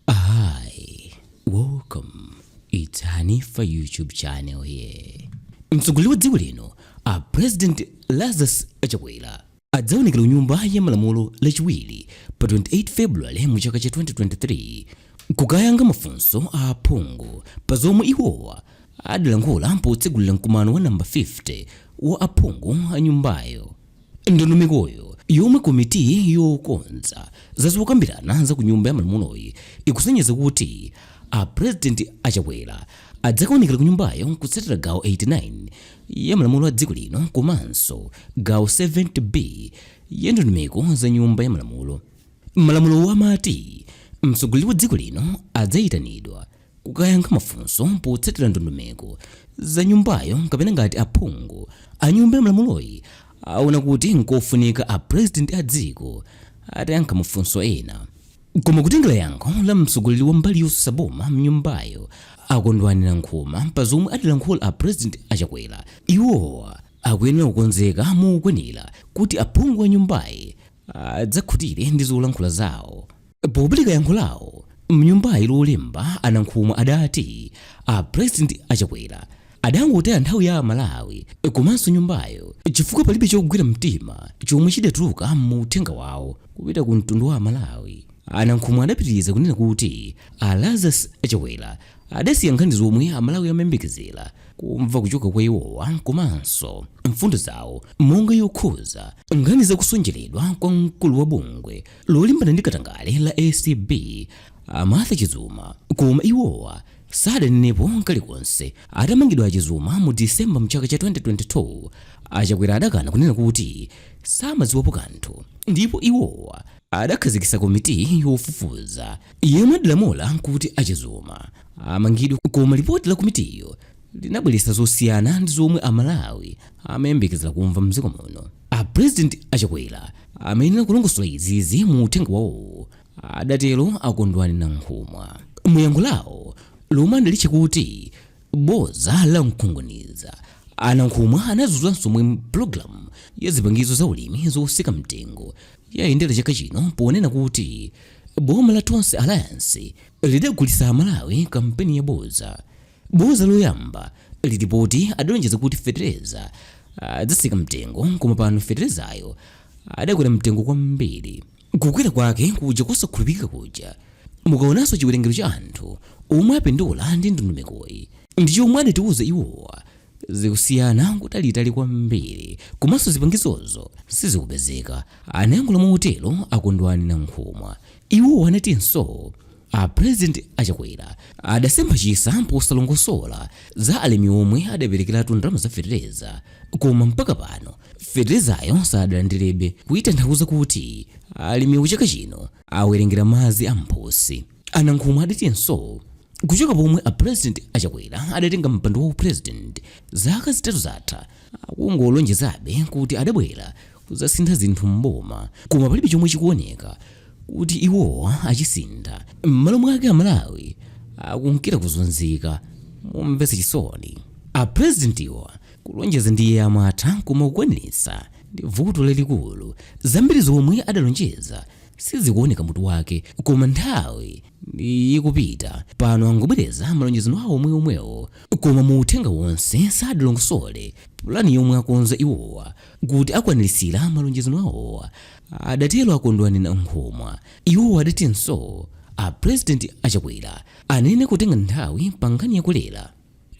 Hi, welcome. It's Hanifa YouTube channel here. Mtsogoleri wa dziko lino a President Lazarus Chakwera adzaonekera ku nyumba ya malamulo lachiwiri pa 28 February mu chaka cha 2023 kukayankha mafunso a aphungu pa zomwe iwowa adalankhula potsegulira mkumano wa namba 50 wa aphungu a nyumbayo. Ndondomekoyo, yomwe komiti yokonza za zokambirana za ku Nyumba ya Malamuloyi ikusonyeza kuti a President a Chakwera adzakaonekera ku nyumbayo kutsatira gawo 89 ya malamulo a dziko lino komanso gawo 70 B ya ndondomeko za Nyumba ya Malamulo. Malamulowo amati mtsogoleri wa dziko lino adzaitanidwa. kukayankha mafunso potsatira ndondomeko za nyumbayo kapena ngati aphungu a nyumba ya malamuloyi aona kuti nkofunika a president a dziko atayankha mafunso ena koma kutengera yankho la mtsogoleri wa mbali yotsutsa boma mnyumbayo a Kondwani Nankhumwa pa zomwe adalankhula a president a Chakwera iwowa akuyenera kukonzeka mokwanira kuti aphungu a nyumbayi adzakhutire ndi zolankhula zawo. Popereka yankho lawo mnyumbayi lolemba a Nankhumwa adati a President a Chakwera adangotaya nthawi ya Amalawi komanso nyumbayo chifukwa palibe chogwira mtima chomwe chidatuluka mu uthenga wawo kupita ku mtundu wa Amalawi. A Nankhumwa adapitiriza kunena kuti a Lazarus Chakwera Adasiya nkhani zomwe Amalawi amayembekezera kumva kuchoka kwa iwowa komanso mfundo zawo monga yokhuza nkhani za kutsonjedwa kwa mkulu wa bungwe lolimbana ndi katangale la ACB a Martha Chizuma koma iwowa sadanenepo kalikonse. Atamangidwa a Chizuma mu December mchaka cha 2022, a Chakwera adakana kunena kuti samadziwapo kanthu ndipo iwowa adakhazikitsa komiti yofufuza. yemwe adalamula kuti a Chizuma amangidwe koma lipoti la komitiyo linabweretsa zosiyana ndi zomwe a Malawi amayembekezera kumva mdziko muno. A President a Chakwera amayenera kulongosola izizi mu uthenga wawowo, adatero a Kondwani Nankhumwa. Mu yankho lawo lomwe adalitcha kuti boza la mkunkhuniza, a Nankhumwa anadzudzula zomwe pulogalamu ya zipangizo za ulimi zotsika mtengo yayendera chaka chino ponena kuti boma la Tonse Alliance lidagulitsa Amalawi kampeni ya boza. Boza loyamba lili poti adalonjeza kuti fetereza adzatsika mtengo koma pano feterezayo adakwera mtengo kwambiri. Kukwera kwake kuja kosakhulupilika kuja mukaonanso chiwerengero cha anthu omwe apindula ndi ndondomekoyi ndi chomwe adatiuza iwowa zikusiyana n'kutalitali kwambiri komanso zipangizozo sizikupezeka, anayankhula motero a Kondwani Nankhumwa. Iwo anatinso a President a Chakwera adasempha chitsa posalongosola za alimi omwe adaperekeratu ndalama za fetereza koma mpaka pano feterezayo sadalandirebe, kutanthauza kuti alimiwo chaka chino awerengera madzi a mphutsi. A Nankhumwa adatinso kuchoka pomwe a President a Chakwera adatenga mpando wa u President zaka zitatu zatha, akungolonjezabe kuti adabwera kuzasintha zinthu m'boma koma palibe chomwe chikuoneka kuti iwowa achisintha, m'malo mwake Amalawi akunkira kuzunzika momvetsa chisoni. A Presidentiwa kulonjeza ndiye amatha koma kukwaniritsa ndi vuto lalikulu, zambiri zomwe adalonjeza Sizikuoneka mutu wake koma nthawi ikupita pano angobwereza malonjezano awo omweomwewo koma mu uthenga wonse sadalongosole pulani yomwe akonza iwowa kuti akwaniritsira malonjezano awowa, adatero a Kondwani Nankhumwa. Iwo adatinso a Pulezidenti a Chakwera anayenera kutenga nthawi pa nkhani ya kolera.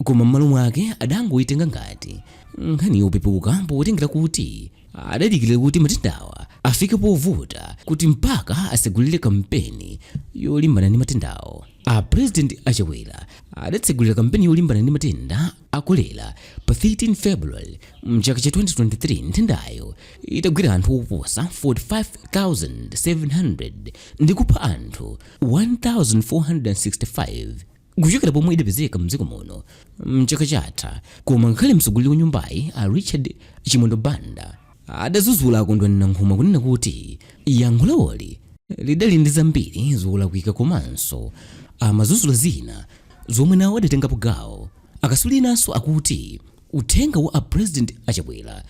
Koma m'malo mwake adangoitenga ngati nkhani yopepuka potengera kuti adadikira kuti matendawa afike povuta kuti mpaka atsegulire kampeni yolimbana ndi matendawo. A President a Chakwera adatsegulira kampeni yolimbana ndi matenda a kolera pa 13 February m'chaka cha 2023 nthendayo itagwira anthu oposa 45,700 ndi kupha anthu 1,465. kuchokera pomwe idapezeka mdziko muno mchaka chatha koma ngakhale mtsogoleri wa nyumbayi a richard chimwendo banda adadzudzula a kondwani nankhumwa kunena kuti yankho lawoli lidali ndi zambiri zolakwika komanso amadzudzula zina zomwe nawo adatengapo gawo akatswiri enanso akuti Uthenga wa a President a Chakwera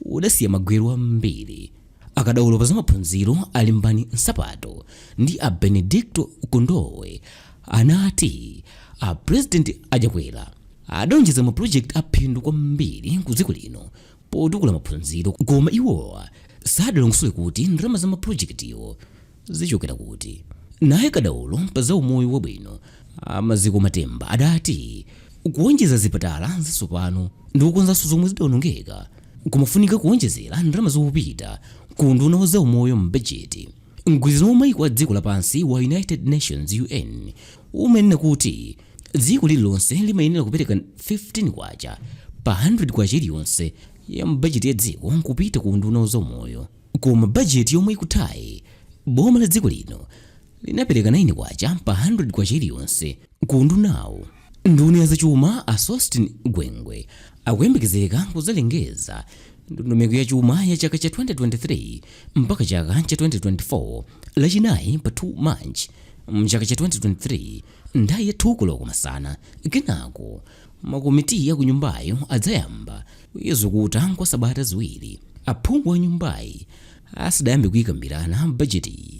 udasiya magwero ambiri. Akadaulo pa zamaphunziro a Limbani Nsapato ndi a Benedicto Kondowe anati a President a Chakwera adalonjeza ma project a phindu kwambiri ku dziko lino potukula maphunziro koma iwowa sadalongosole kuti ndalama za ma project-wo zichokera kuti? Naye kadaulo pa za umoyo wabwino a Maziko Matemba adati kuonjeza zipatala zatsopano ndi kukonzanso zomwe zidaonongeka kumafunika kuonjezera ndalama zopita ku unduna wa zaumoyo m'bajeti. Mgwirizano wa maiko a dziko lapansi wa United Nations, UN, umanena kuti dziko lililonse limayenera kupereka K15 pa K100 iliyonse ya m'bajeti ya dziko kupita ku unduna wa zaumoyo. Koma bajeti yomwe ikuthayi, boma la dziko lino linapereka K9 pa K100 iliyonse ku undunawu. Nduna ya zachuma a Sosten Gwengwe akuyembekezeka kudzalengeza ndondomeko ya chuma ya chaka cha 2023 mpaka chaka cha 2024 lachinayi pa 2 March mchaka cha 2023 nthawi ya 2 koloko masana. Kenako. Makomitiyi akunyumbayi adzayamba kuizukuta kwa sabata ziwiri aphungu a nyumbayi asadayambe kuikambirana bajetiyi.